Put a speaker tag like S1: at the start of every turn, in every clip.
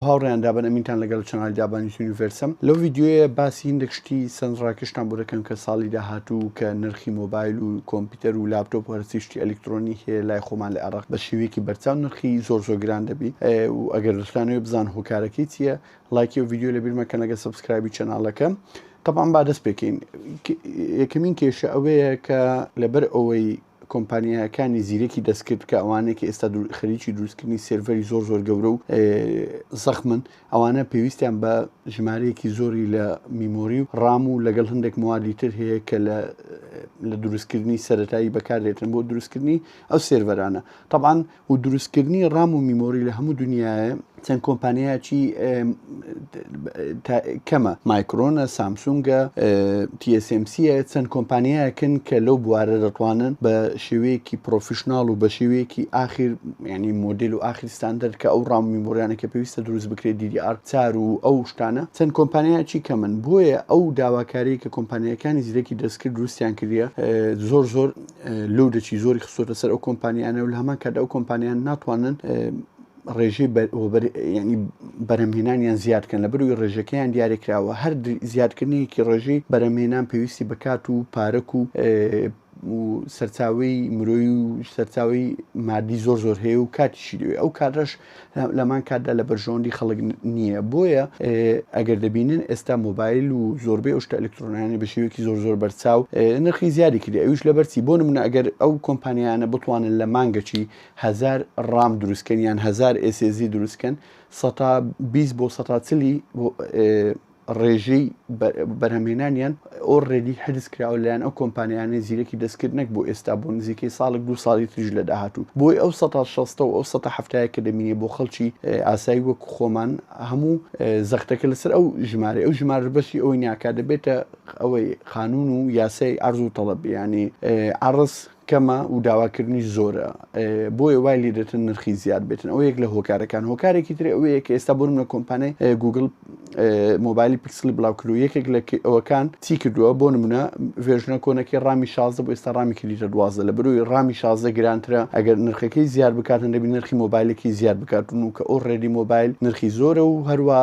S1: هاوڕێیان دابن ئەمینتان لەگەل چەنالی دابان یوتونی ڤێرسم لەو ڤیدیۆیە باسی هیندێک شتی سەند ڕاکێشتان بۆ دەکەم کە ساڵی داهاتوو کە نرخی مۆبایل و کۆمپیوتەر و لاپتۆپ و هەرچی شتی ئەلیکترۆنی هەیە لای خۆمان لە عێڕاق بە شێوەیەکی بەرچاو نرخی زۆر زۆر گران دەبی و ئەگەر دەتانەوێ بزان هۆکارەکەی چییە لایکی و ڤیدیۆ لە بیر مەکەن لەگە سبسکرایبی چەناڵەکەم طبعا با دەست پێکەین یەکەمین کێشە ئەوەیە کە لەبەر ئەوەی کۆمپانیاکانی زیرەکی دەستکرد کە ئەوانەیە کە ئێستا خەریکی دروستکردنی سێرڤەری زۆر زۆر گەورە و زەخمن ئەوانە پێویستیان بە ژمارەیەکی زۆری لە میمۆری و ڕام و لەگەڵ هەندێک موادی تر هەیە کە لە دروستکردنی سەتایی بەکاردێتن بۆ دروستکردنی ئەو سێرڤەرانە تەبان و دروستکردنی ڕام و میمۆری لە هەموو دنیاە چەند کۆمپانیایکی کەمە مایکرۆنە سامسونگە TSMCە چەند کۆمپانیایەکن کە لەو بوارە دەتوانن بە شێوەیەکی پرۆفیشنناڵ و بە شێوەیەکی ئاخیر ینی مۆدل و ئاخیرستاندەر کە ئەو ڕام میمۆریانە کە پێویستە دروست بکرێت دیدی ئارچار و ئەو شتانە چەند کۆمپانیایکی کەمن بۆیە ئەو داواکاری کە کۆمپانیەکانی زیرەکی دەستکرد دروستیان کردە زۆر زۆر لۆدێکی زۆری خستۆتە سەر ئەو کۆمپانیانە و لە هەمان کاتدا ئەو کۆمپانیان ناتوانن ڕێژەی ینی بەرەمهێنانیان زیادکەن لە بروی ڕێژەکەیان دیارێکراوە هەر زیادکردنیکی ڕێژەی بەرەمهێنان پێویستی بکات و پارەک و سەرچاوی مرۆی و سەرچاوی مادی زۆر زۆر هەیە و کاتیشی دوێ ئەو کاتەش لەمان کاتدا لە بەرژەوەندی خەڵک نییە بۆیە ئەگەر دەبینن ئێستا مۆبایل و زۆربەی ئەوشتە ئەلکترۆنیانی بە شێوەیەکی زۆر زۆر بەرچاو نرخی زیادی کردی ئەوش لە بەرچی بۆ منە ئەگەر ئەو کۆمپانیانە بتوانن لە مانگەچی هزار ڕام دروستکەن یان هزار ئێسێزی دروستکەن 120 بۆ 140 ڕێژەی بەرهەمهێنانیان ئۆڕێدی حرز کراوە لەیان ئەو کۆمپانیانەی زیرەکی دەستکرد نەک بۆ ئێستا بۆ نزیکەی ساڵک دو ساڵی تریژ لە داهاتوو بۆی ئەو 16 و ئەو 1970 کە دەمینێ بۆ خەڵکی ئاسایی وەک خۆمان هەموو زەختەکە لەسەر ئەو ژمارە ئەو ژمار بەشی ئەوەی ناکات دەبێتە ئەوەی قانون و یاسای ئارز و تەڵەبیانی عرس کەمە و داواکردنی زۆرە بۆیە وای لێ دێتن نرخی زیاد بێتن ئەو یەک لە هۆکارەکان هۆکارێکی تری ئەوەیە کە ئێستا بۆن لە کۆمپانای گوگل مۆبایلی پکسلی بڵاوکرد و یەکێک لە ئەوەکان چی کردووە بۆ نمونە ڤێژنە کۆنەکە ڕامی شازە بۆ ئێستا ڕامی کردیتە دوازە لە بروی ڕامی شازە گرانترە ئەگەر نرخەکەی زیاد بکاتن دەبی نرخی مۆبایلێکی زیاد بکاتون و کە ئەو ڕێدی مۆبایل نرخی زۆرە و هەروە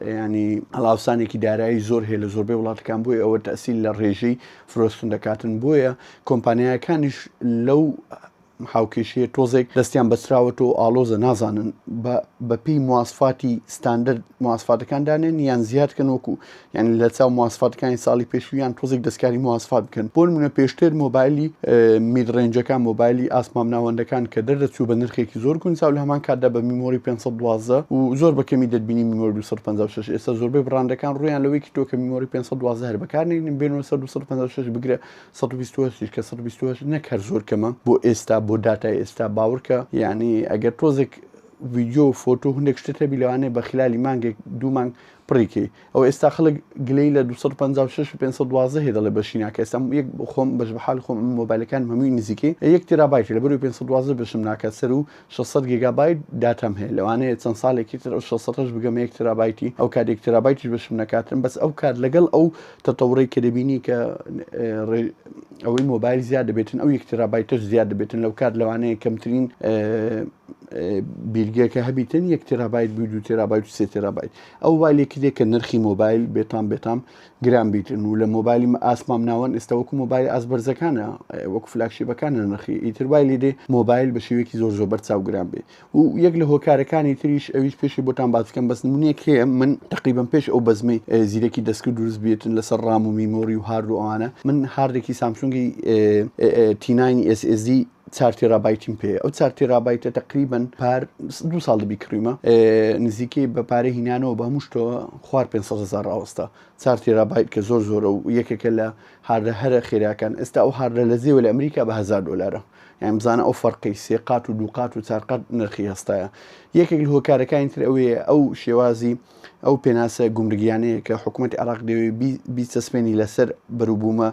S1: ینی هەڵاوسانێکی دارایی زۆر هەیە لە زۆربەی وڵاتەکان بۆی ئەوە تەسیل لە ڕێژەی فرۆشتن دەکاتن بۆیە کۆمپانیایەکانیش لەو هاوکێشەیە تۆزێک دەستیان بەسراوەت و ئالۆزە نازانن بەپی مواسفاتی ستاندرد مواسفاتەکان دانێن یان زیادکەن وەکو یان لە چاو مواسفاتەکانی ساڵی پێشویان تۆزێک دەستکاری مواسفات بکەن بۆ منە پێشتر مۆبایلی میدڕێنجەکان مۆبایلی ئاسمام ناوەندەکان کە دەردەچوو بە نرخێکی زۆر گونجاو لە هەمان کاتدا بە میمۆری 512 و زۆر بەکەمی دەبینی میمۆری 256 ئێستا زۆربەی بڕاندەکان ڕویان لەوەیکی تۆکە میمۆری 512 هەر بەکار نێنین بێنەوە 1956 بگرە 1920 کە 1920 نەک هەر زۆر کەمە بۆ ئێستا بۆ دااتای ئێستا باورکە یعنی ئەگەر تۆزێک ویددیو فۆتو هەندێک شتە بی لەوانێ بە خلالی مانگێک دوو مانگ پڕیکەی ئەو ئێستا خەڵک گلەی لە 256 512 هێ دەڵێ بەشی ناکە ئێستا یەک خۆم بەش بەحال خۆم مۆبایلەکان هەمووی نزیکەی یەک تێرابایتی لە بەرو 512 بشم ناکە سەر و شەش سەد گیگابایت داتام هەیە لەوانەیە چەند ساڵێکی تر ئەو شەش سەدەش بگەمە یەک تێرابایتی ئەو کات یەک تێرابایتیش بەشم نەکاتن بەس ئەو کات لەگەڵ ئەو تەتەوڕەی کە دەبینی کە ئەوەی مۆبایل زیاد دەبێتن ئەو یەک تێرابایتەش زیاد دەبێتن لەو کات لەوانەیە کەمترین بیرگەکە هەبیتن یەک تێرابایت بوو دو تێرابایت و سێ تێرابایت ئەو والێکی دێ کە نرخی مۆبایل بێتام بێتام گران بیتن و لە مۆبایلی ئاسمام ناوەن ئێستا وەکو مۆبایل ئاسبەرزەکانە وەکو فلاکشیبەکانە نرخی ئیتر وای لێ دێ مۆبایل بە شێوەیەکی زۆر زۆر بەرچاو گران بێ و یەک لە هۆکارەکانی تریش ئەویش پێشی بۆتان باسکەم بەس نمونەیەک هەیە من تقریبم پێش ئەو بەزمەی زیرەکی دەستکرد دروست بێتن لەسەر ڕام و میمۆری و هارد و ئەوانە من هاردێکی سامسونگی تیناین SSD چار تێرابایتیم پێیە ئەو چار تێرابایتە تقریبن پار دو ساڵ دەبی کڕیمە نزیکەی بە پارە هینانەوە بە هەمووشتۆ خوار 500 هزار ڕاوەستا چار تێرابایت کە زۆر زۆرە و یەکێکە لە هاردە هەرە خێراکان ئێستا ئەو هاردە لە زێوە لە ئەمریکا بە هزار دلارە یان بزانە ئەو فەرقی سێقات و دووقات و چارقات نرخی هەستایە یەکێک لە هۆکارەکانی تر ئەوەیە ئەو شێوازی ئەو پێناسە گومرگیانەیە کە حکوومەت عراق دەوێت بیچەسپێنی لەسەر بەروبوومە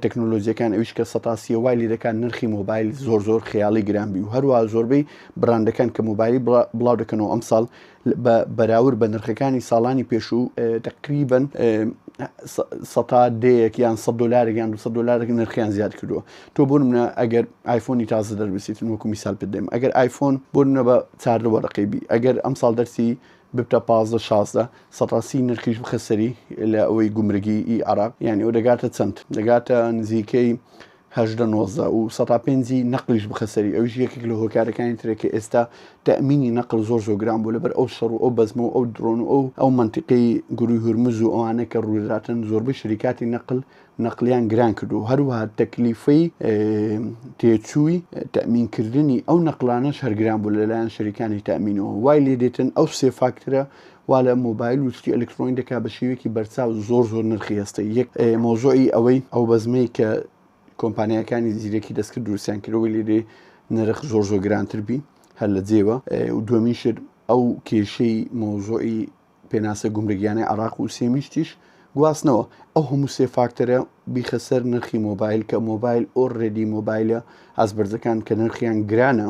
S1: تەکنۆلۆجیەکان ئەویش کە سەتاسیە وای لێ دەکات نرخی مۆبایل زۆر زۆر خیاڵی گران بی و هەروە زۆربەی براندەکان کە مۆبایلی بڵاو دەکەنەوە ئەم ساڵ بە بەراورد بە نرخەکانی ساڵانی پێشوو تقریبن سەتا دەیەک یان سە دلارێک یان دو دلارێک نرخیان زیاد کردووە تۆ بۆ منە ئەگەر آیفۆنی تازە دەربسیتن وەکو میسال بدەم ئەگەر آیفۆن بۆ منە بە چاردە وەرەقەی بی ئەگەر ئەم ساڵ دەرسی ببتە پازدە شازدە سەد ڕاستی نرخیش بخە سەری لە ئەوەی گومرگی ئی عراق یعنی ئەو دەگاتە چەند دەگاتە نزیکەی هەژدە نۆزدە و سەتا پێنجی نەقلیش بخە سەری ئەوش یەکێک لە هۆکارەکانی ترە کە ئێستا تەمینی نەقل زۆر زۆر گران بوو لەبەر ئەو شەڕ و ئەو بەزمە و ئەو درۆن و ئەو ئەو منتیقی گروی هورمز و ئەوانە کە ڕووداتن زۆربەی شریکاتی نەقل نەقلیان گران کرد و هەروەها تەکلیفەی تێچووی تەمینکردنی ئەو نەقلانە شەرگران بوو لەلایەن شەریکانی تامینەوە وای لێ دێتن ئەو سێ فاکترە وا لە مۆبایل وشتی ئەلکترۆنی دەکا بە شێوێکی بەرچاو زۆر زۆر نرخی هەستە یەک مۆزۆی ئەوەی ئەو بەزمەی کە کۆمپانیەکانی زیرەکی دەستکرد دروستیان کردەوەی لێدێ نرخ زۆر زۆر گرانتر بی هەر لە جێوە و دومین شت ئەو کێشەی مۆزۆی پێناسە گومرگیانەی عراق و سێمیشتیش گواستنەوە ئەو هەموو سێ فاکتەرە بیخە سەر نرخی مۆبایل کە مۆبایل ئۆر ڕێدی مۆبایلە ئازبەرزەکان کە نرخیان گرانە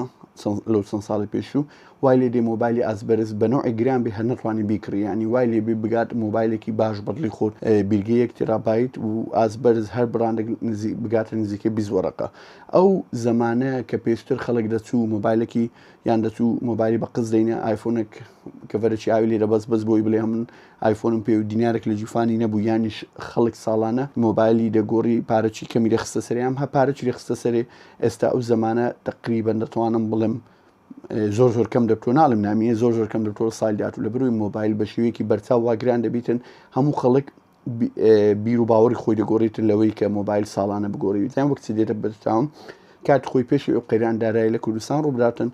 S1: لەو چەند ساڵی پێشوو وای لێ دێ مۆبایلی ئازبەرز بەنەوەی گران بێ هەر نەتوانانی بیکڕیانی وای لێ بێ بگات مۆبایلێکی باش بەدلی خۆر بیرگە یەک تێرابیت و ئازبەرز هەر بڕاندێک بگاتە نزیکە بیزوەڕەکە ئەو زمانەیە کە پێشتر خەڵک دەچوو مۆبایلێکی یان دەچوو مۆبایلی بە قز دەینە ئایفۆنێک کەڤەرەی ئاوی لێرە بەس بەس بۆی بڵێ من ئایفۆنم پێ و دینارێک لە جیفانی نەبوو یانیش خەڵک ساڵانە مۆبایلی دەگۆڕی پارەچی کەمی دەخستە سەریان هە پارەچی دەخستە سەرێ ئێستا ئەو زمانە تقریبن دەتوانم بڵێم زۆر زۆر کەم دەبتۆ ناڵم نامیە زۆر زۆر کەم دەبتۆ ساڵ داات و لە بروی مۆبایل بە شێوەیەکی بەرچاو واگران دەبیتن هەموو خەڵک بیر و باوەڕی خۆی دەگۆڕیتر لەوەی کە مۆبایل ساڵانە بگۆڕیویان وەکچ دێتە بەرتاون کات خۆی پێشی ئەو قەیران دارای لە کوردستان ڕووبداتن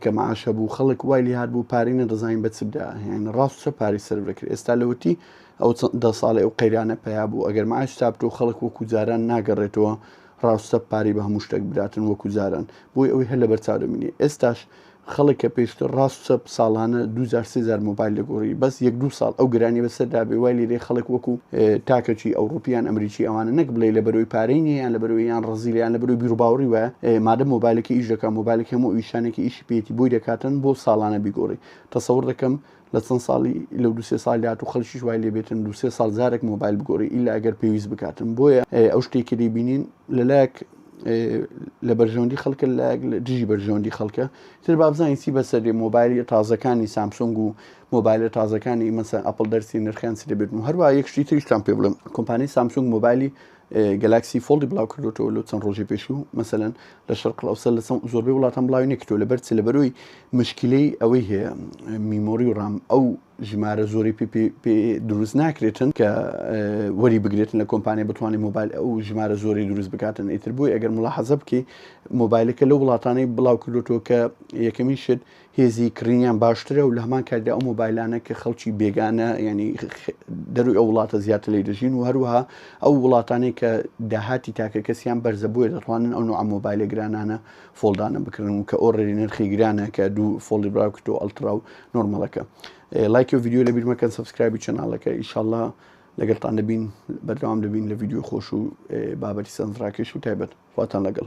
S1: کە معاش هەبوو خەڵک وای لێ هاات بوو پارەی نەدەزانین بە چدا هێن ڕاست چە پارەی سەر بکرێت ئێستا لەوەتی ئەو دە ساڵی ئەو قەیرانە پیا بوو ئەگەر معاش تابتۆ خەڵک وەکو جاران ناگەڕێتەوە ڕاستە پاری بە هەموو شتێک بداتن وەکو جاران بۆی ئەوەی هەر لە بەرچاو دەمینێ ئێستاش خەڵک کە پێشتر ڕاست و چەپ ساڵانە دوو جار سێ جار مۆبایل دەگۆڕی بەس یەک دوو ساڵ ئەو گرانیە بەسەر دابێ وای لێدێ خەڵک وەکو تاکەکی ئەوڕوپی یان ئەمریکی ئەوانە نەک بڵێی لەبەرەوەی پارەی نیە یان لەبەرەوەی یان ڕەزیلە یان لەبەرەوەی بیروباوڕی وایە مادەم مۆبایلەکەی ئیش دەکا مۆبایلەکەی هەموو ئیشانێکی ئیشی پێیەتی بۆی دەکاتن بۆ ساڵانە بیگۆڕی تەسەوڕ دەکەم لە چەند ساڵی لەو دو سێ ساڵ داات و خەلکیش وای لێبێتن دو سێ ساڵ جارێک مۆبایل بگۆڕی ئیلا ئەگەر پێویست بکاتن بۆیە ئەو شتێک کە دەیبینین لەلایەک لە بەرژەوەندی خەڵکە لە دژی بەرژەوەندی خەڵکە تر بابزانین چی بەسەری مۆبایلی تازەکانی سامسۆنگ و مۆبایلە تازەکانی مەسەن ئەپل دەرسی نرخیان چ دەبێتن و هەروە یەکشتی تریشتان پێ بڵم کۆمپانی سامسۆنگ مۆبایلی گەلاکسی فۆڵدی بڵاو کردوەوە لە چەند ڕۆژی پێشوو مەسەەن لە شەرقل ئەوسە لە چەند زۆربەی وڵاتان بڵاوی نەکردو لە بەرچ لە بەرۆی مشکلەی ئەوەی هەیە میمۆری و ڕام ئەو ژمارە زۆری پێ دروست ناکرێتن کە وەری بگرێتن لە کۆمپانیا بتوانانی موبایل ئەو ژمارە زۆری دروست بکاتن ئیتر بۆی ئەگەر مڵاحەزە بکەی مۆبایلەکە لە وڵاتانی بڵاو کردوەوە کە یەکەمی شت هێزی کڕینیان باشترە و لە هەمان کاتدا ئەو مۆبایلانە کە خەڵکی بێگانە ینی دەروی ئەو وڵاتە زیاتر لی دەژین و هەروەها ئەو وڵاتانێک کە داهاتی تاکە کەسیان بەرزە بۆیە دەڕوانن ئەو نوع مۆبایلە گرانانە فۆلدانە بکردن و کە ئۆڕێری نرخی گرانە کە دوو فۆڵی براکت و ئەلترا و نۆرمەڵەکە لایکی و یددیو لە بیرمەکەن سبسکرایبی چەناڵەکە ئیشله لەگەڵتان دەبین بەردەوام دەبین لە یددیو خۆش و بابەتی سەنجڕاکەش و تایبەت خواتان لەگەڵ